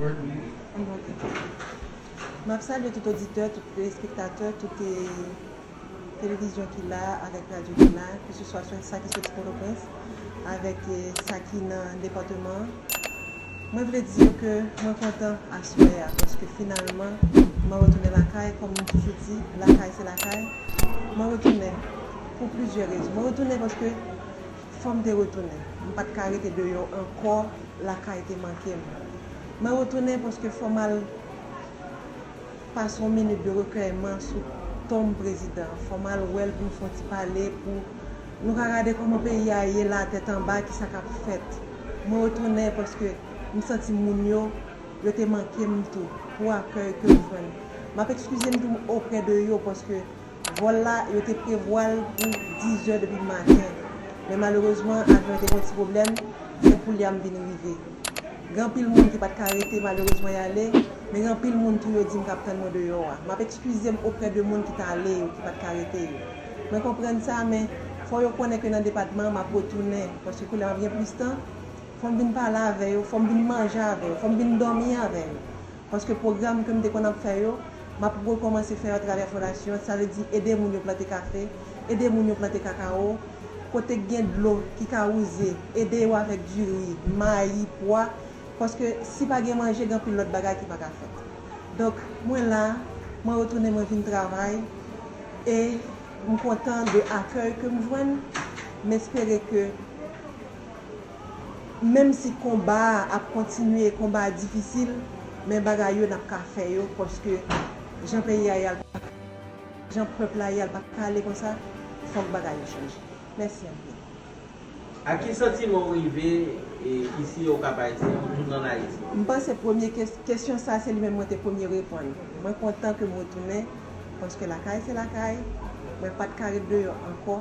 Yon bon tèks. M ap salye tout oditè, tout telespektatè, tout televizyon ki la a avèk radyo ki la a, keseswa sa ki soti Pòtoprens avèk sa ki nan depatman an. Mwen vle di yo ke mwen kontan aswè a paske finalman mwen retounen lakay. Kòm m toujou di, lakay se lakay. Mwen retounen pou plizyè rezon. Mwen retounen paske. Fòm te retounen. M pat ka rete deyò ankò lakay te manke m. Mwen retounen paske fò m al pase yon minit de rekèyman sou tonm prezidan an. Fò m al wè l pou nou fè yon ti pale pou nou ka gade kòman peyi a ye la tèt anba ki sa k ap fèt. Mwen retounen paske m santi moun yo yo te manke m tou pou akèy ke m jwenn. M ap ekskize m tou oprè de yo paske Vòl la, yo te prevwa l pou 10 zè depi maten, men malerezman avyon an te gen yon ti pwoblèm, se pou l ya m vin rive. Gen anpil moun ki pa t ka rete malerezman y ale, men gen anpil moun tou yo di m k ap tann mwen deyò a. M ap ekskize m oprè de moun ki t ale yo, ki pa t ka rete yo. Mwen konprann sa, men fò yo konnen ke nan depatman an m ap retounen, paske koulye a m ap gen plis tan, fò m vin pale avè yo, fò m vin manje avè yo, fò m vin dòmi avè yo. Paske pwogram ke m te konn ap fè yo, m ap rekòmanse fè yo atravè fondasyon an, sa vle di ede moun yo plante kafe, ede moun yo plante kakawo, kote k gen dlo ki ka wouze, ede yo avèk diri, mayi, pwa, paske si pa gen manje gen anpil lòt bagay ki pa ka fèt. Donk mwen la, mwen retounen mwen vin travay e m kontan de akèy ke m jwenn, m espere ke. Menm si konba a ap kontinye konba a difisil men bagay yo nap ka fè yo paske jan peyi a ye a l paka jan pèp la ye a l paka ale konsa fòk bagay yo chanje mèsi anpil. Ak ki santiman w rive isi o Kap Ayisyen ou tounen an Ayiti? M panse premye kesyon sa se li menm mwen te premye reponn. Mwen kontan ke m retounen paske lakay se lakay, mwen pat ka ret deyò ankò.